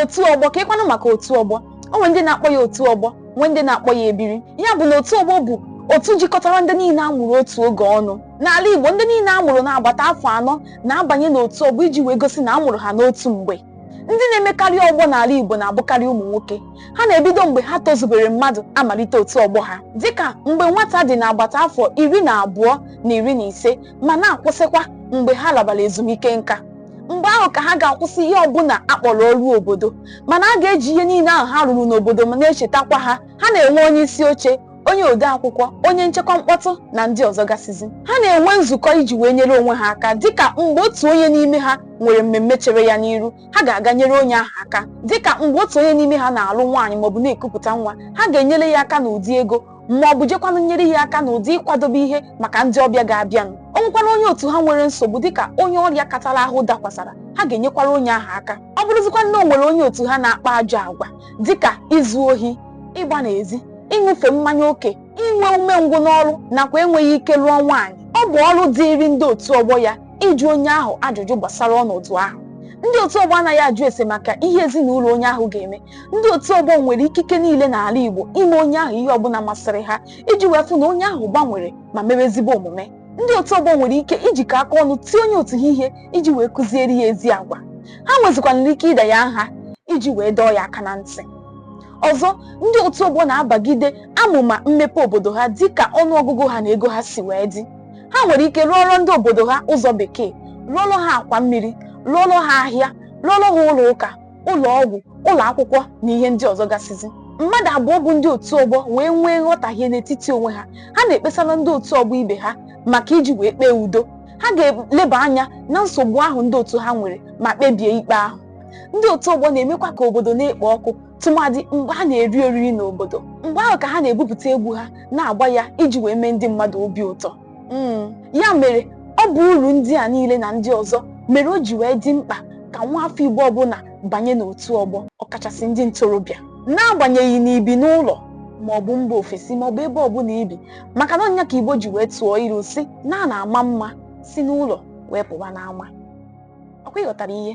otu ọgbọ keekwanụ maka otu ọgbọ o nwere ndị na-akpọ ya otu ọgbọ nwee ndị na-akpọ ya ebiri ya bụ na otu ọgbọ bụ otu jikọtara ndị niile a mụrụ otu oge ọnụ n'ala Igbo ndị niile a mụrụ n'agbata afọ anọ na-abanye n'otu ọgbọ iji wee gosi na a mụrụ ha n'otu mgbe ndị na-emekarị ọgbọ n'ala Igbo na-abụkarị ụmụ nwoke ha na-ebido mgbe ha tozubere mmadụ amalite otu ọgbọ ha dịka mgbe nwata dị n'agbata afọ iri na abụọ na iri na ise ma na-akwụsịkwa mgbe ha labara ezumike nka mgbe ahụ ka ha ga-akwụsị ihe ọbụla a kpọrọ ọrụ obodo mana a ga-eji ihe niile ahụ ha rụrụ n'obodo ma na-echetakwa ha ha na-enwe onye isi oche onye ode akwụkwọ onye nchekwa mkpọtụ na ndị ọzọ gasịzi ha na-enwe nzukọ iji wee nyere onwe ha aka dịka mgbe otu onye n'ime ha nwere mmemme chere ya n'iru ha ga-aga nyere onye ahụ aka dịka mgbe otu onye n'ime ha na-alụ nwaanyị maọbụ na-ekupụta nwa ha ga-enyere ya aka n'ụdị ego ma ọ bụ jekwanụ nyere ya aka n'ụdị ịkwadobe ihe maka ndị ọbịa ga-abịanụ o nwekwara onye otu ha nwere nsogbu dịka onye ọrịa katara ahụ dakwasara ha ga-enyekwara onye ahụ aka ọ bụrụzikwa na o nwere onye otu ha na-akpa ajọ agwa dịka izu ohi ịgba n'ezi ịṅụfe mmanya oke inwe umengwụ n'ọrụ nakwa enweghị ike lụọ nwaanyị ọ bụ ọrụ dịịrị ndị otu ọgbọ ya ịjụ onye ahụ ajụjụ gbasara ọnọdụ ahụ ndị otu ọgbọ anaghị ajụ ese maka ihe ezinụlọ onye ahụ ga-eme ndị otu ọgbọ nwere ikike niile n'ala Igbo ime onye ahụ ihe ọbụla masịrị ha iji wee fụ na onye ahụ gbanwere ma mewe ezigbo omume ndị otu ọgbọ nwere ike ijikọ aka ọnụ tie onye otu ha ihe iji wee kụziere ya ezi agwa ha nwezikwanara ike ịda ya nha iji wee dọọ ya aka na ntị ọzọ ndị otu ọgbọ na-abagide amụma mmepe obodo ha dị ka ọnụ ọgụgụ ha na ego ha si wee dị ha nwere ike rụọrọ ndị obodo ha ụzọ bekee rụọrọ ha akwa mmiri rụọrọ ha ahịa rụọrọ ha ụlọ ụka ụlọ ọgwụ ụlọ akwụkwọ na ihe ndị ọzọ gasịzi mmadụ abụọ bụ ndị otu ọgbọ wee nwee nghọtahie n'etiti onwe ha ha na-ekpesara ndị otu ọgbọ ibe ha maka iji wee kpee udo ha ga-eleba anya na nsogbu ahụ ndị otu ha nwere ma kpebie ikpe ahụ ndị otu ọgbọ na-emekwa ka obodo na-ekpo ọkụ tụmadị mgbe ha na-eri oriri n'obodo mgbe ahụ ka ha na-ebupụta egwu ha na-agba ya iji wee mee ndị mmadụ obi ụtọ hmm, ya mere ọ bụ uru ndị a niile na ndị ọzọ mere o ji wee dị mkpa ka nwa afọ Igbo ọbụla banye n'otu ọgbọ ọkachasị ndị ntorobịa n'agbanyeghị na i bi n'ụlọ ma ọ bụ mba ofesi ma ọ bụ ebe ọbụla i bi maka na ọ nya ka Igbo ji wee tụọ ilu sị na a na-ama mma si n'ụlọ wee pụwa n'ama ọ kwa ị ghọtara ihe